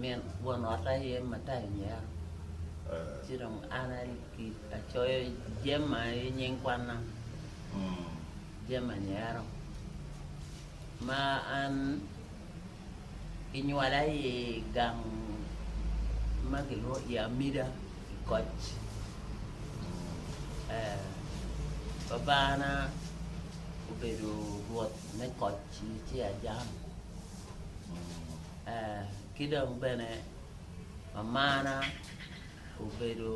Min won ot aye Matayo Nyeya, ci dong an acoyo Jemma i nying kwanna, Jemma Nyero, ma an kinywala i gang ma gilwongo i Amida i Koc. Babana obedo Rwot me Koc ci ajano. ki dong bene mamana obedo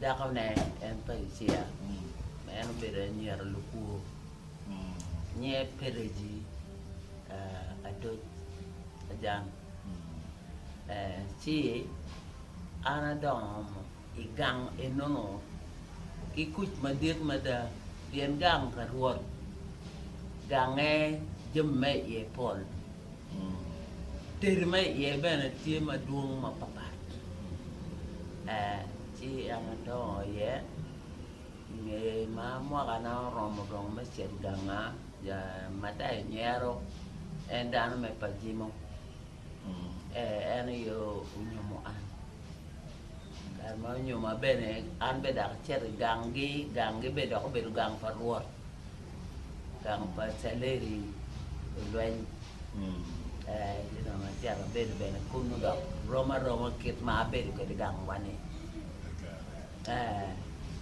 dakone en pa Ucia ma en obedo anyira lukwo nyinge Peregi adoc ajan ci an adongo i gang enono ki kuc madit mada, pien gang pa Rwot gange jami ma iye pol, teri ma iye bene tye madwong mapatpat. Ci en adongo iye, i nge ma mwakana oromo dong me cito ganga, Mattai nyero, en dano me pajimo. En aye onyomo an. Kare ma onyoma bene, an bene dok acito i ganggi, ganggi bene dok obedo gang pa Rwot, gang pa Caleri olweny. Eh, ci dong acito abedo bene kunu dok rom aroma kit ma abedo kwede i gangwa-ni. Eh.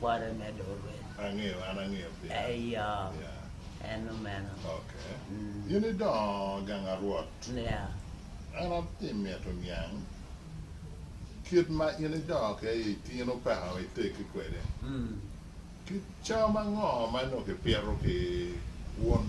Kware me dorwe. Angeyo, an angeyo piny. Eyo. Yeah. En nongo meno. Okay. Mm. In idongo gang a Rwot. Yeah. An atye mito niang kit ma in idongo ki aye itino peka ma iteggi kwede. Mm. Ki cam ango ma nongo kipito ki wun?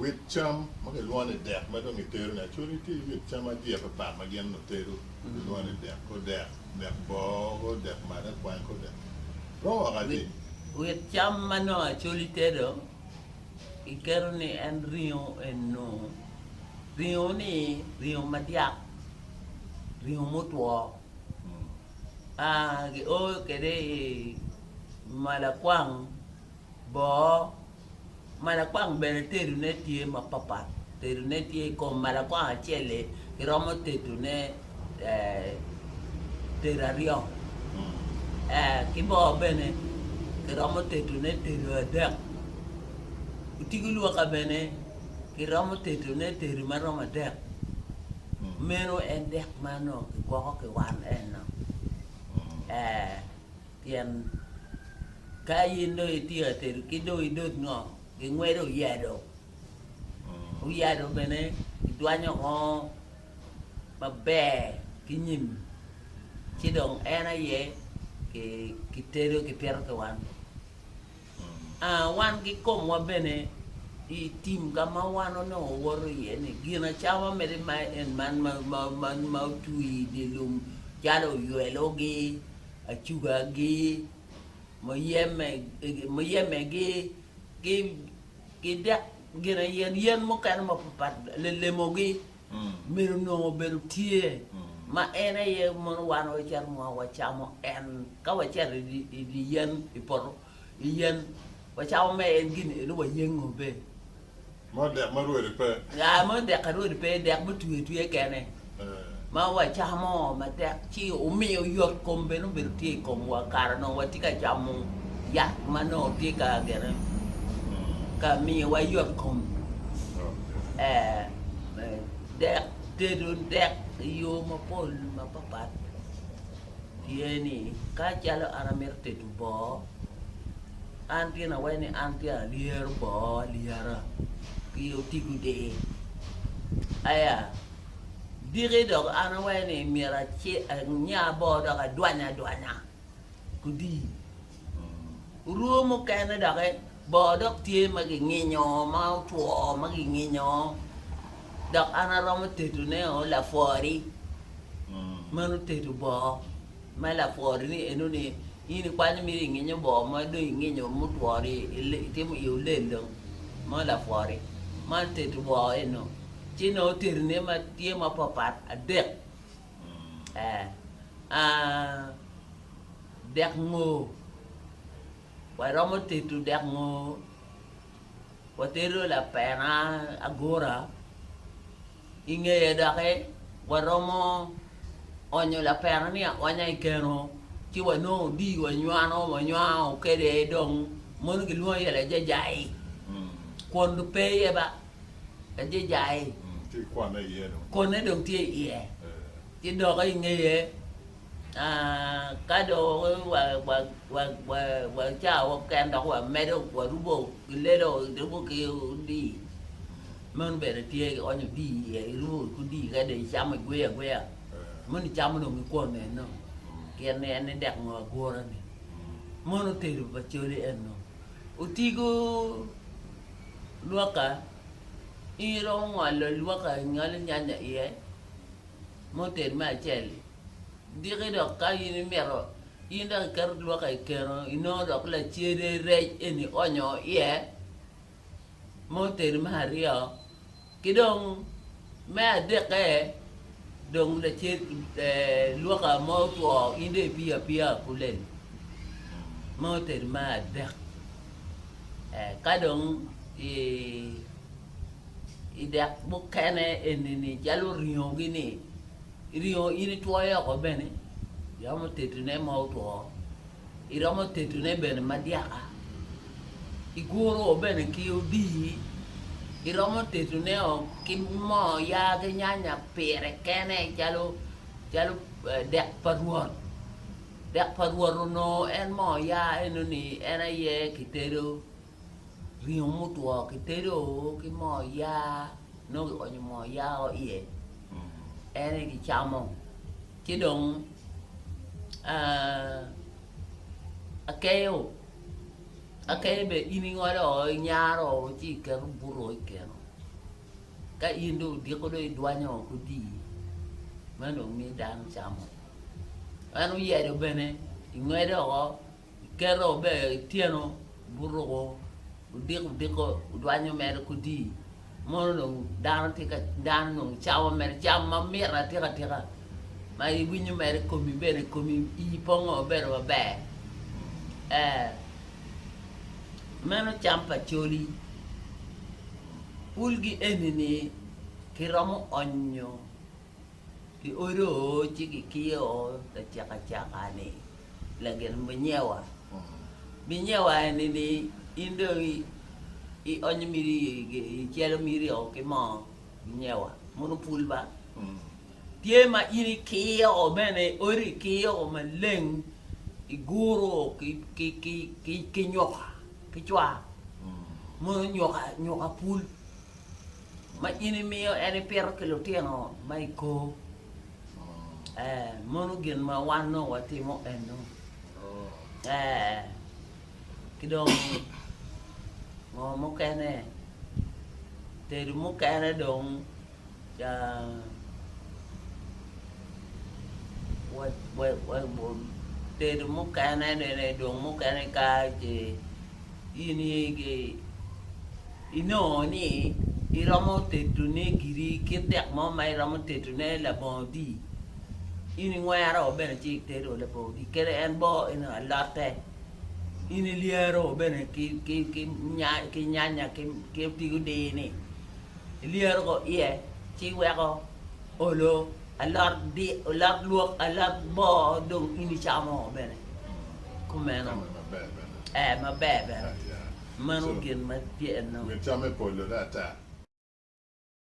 Wit cam ma kilwongo ni dek ma dong gitedo ni acoli tye wit cam adya papat ma gin onongo tedo gilwongo ni dek kor dek, dek boo, kor dek mada kwany, kor dek romo woko atir. Wit cam ma nongo acoli tedo giketo ni en ringo eno ringo ni ringo madyak ringo mutwo aa gio kwede i malakwang. Boo, malakwang bene tedone tye mapapat, tedone tye i kom malakwang acel-li kiromo tedone tedo aryo, ki boo bene kiromo tedone tedo adek, otigo lwoka bene kiromo tedone tedo ma romo adek, meno en dek ma onongo kigwoko ki wan enno ee. Pien ka in dong itye ka tedo ki dong idot ngo gingwedo oyado oyado bene kidwanyo ngo maber ki nyim ci dong en aye kitedo kipito ki wan aa wan ki komwa bene i tim ka ma wan onongo woto iye ni gin acama mere ma en man ma otwi idye lum calo oywelogi acugagi, muyemegi, ki dek yen mukene mapatpat, lelemogi myero onongo obedo tye ma en aye mono wan wacito wacamo en ka wacito i dye yen i poto. Iyel wa cako me en gini elu wa yengo be. Mo dek ma rwodi pe. Ya mo dek ka rwodi pe dek mo twi twi kene. Ma wa camo ma tek ci umiyo yot kom bene obedo tye i kom wa kara no wa tye ka camo yat ma no tye ka gene ka miyo wa yot kom. Eh dek tedo dek iyo ma pol ma papat. tye ni, Ka calo an amito tedo boo, an tye nawene ni an tye alyero boo alyera ki otigo di? Aya, diki dok an awene ni myero anya boo dok adwanya adwanya kudi? Orwo mukene doki bor dok tye ma ginginyo ma otwo ma ginginyo dok an aromo tedo ne o lapwori meno tedo bor ma lapwori ni eno ni in ikwanyo miri inginyo bor ma do inginyo mutwori itimo i olelo mo lapwori man tedo bor eno ci no tedo ne ma tye ma papat adek Dek ngo ma iromo tedo dek ngo? Watedo lapena agura i ngeye doki waromo onyo lapena ni aonya i keno ci wanongo odii wanywano wanywano kede dong mono kilwongo iye lajajai kun pe iye ba ajijai, konne dong tye i iye, ci dokke i ngeye ka dong wacawa keken dok wamedo warubo ki lelo irubo ki odii, meno bene tye ionyo odii i iye irubo ki odii ka dong icamo igweyo agweya mono icamo dong ki kwon eno pien ni en ni dek ngo agura ni mono tedo pa coli eno otigo lwoka i iromo ngolo lwoka i ngolo nyanya iye muted me acel-li diki dok ka in imito in dok iketo lwoka i keno inongo dok lacede rec eni ionyo iye mutedo me aryo Ki dong me adekke, dong lacen luka ma otwo in dong ipiyo apiya apuleni ma otedi me adek ka dong i dek mukene eni calo ringo gi ni ringo in itwoyo oko bene iromo tedone ma otwo. Iromo tetone bene madyaka. Igurowo bene ki odii. Iromo tetoneo ki moo yaa ki nyanya pire kene calo calo dek pa Rwot. Dek pa Rwot onongo en moo yaa enoni en aye kitedo ringo mutwo kitedo ki moo yaa nongo ki onyo moo yaa o iye en aye kicamo ci dong akeyo akeyo bene in ingolo o inyaro o ci iketo buto o ikeno ka in dong odiko dong idwanyo o ki odii meno dong miyo dano camo en oyelo bene ingwedo o Giketo bene ityeno guruko gudiko diko gudwanyo mere kudii mono dong dano tye ka dano dong camo mere cam ma mit atika tika ma iwinyo mere i komi bene i komi ii pongo mabedo maber ee meno cam pa coli pulgi eni-ni kiromo onyo Giodo ci gikiyo lacakacaka-ni, lagin binyewa. Binyewa eni ni in dong ionyo miti icelo miti o ki mo binyewa mono pul ba. Tye ma in ikiyo bene odi ikiyo maleng iguro ki nyoka ki cwa mono nyoka pul ma in imiyo en ipito ki lutino ma i kor ee mono gin ma wan nongo watimo eno ee ki dong ngo mukene tedo mukene dong Ca watedo mukene nene dong mukene ka ce in igi inongo ni iromo tedone giri kit dek mo ma iromo tedone labongo odi in ingwero bene ci itedo labongo odi kadi en boo eno alote in ilyero bene ki nyanya ki otigo dini. Ilyero ko iye ci iweko olo alot di alot lwok alot boo dong in icamo bene kumeno ee maber bene meno gin ma tye enong.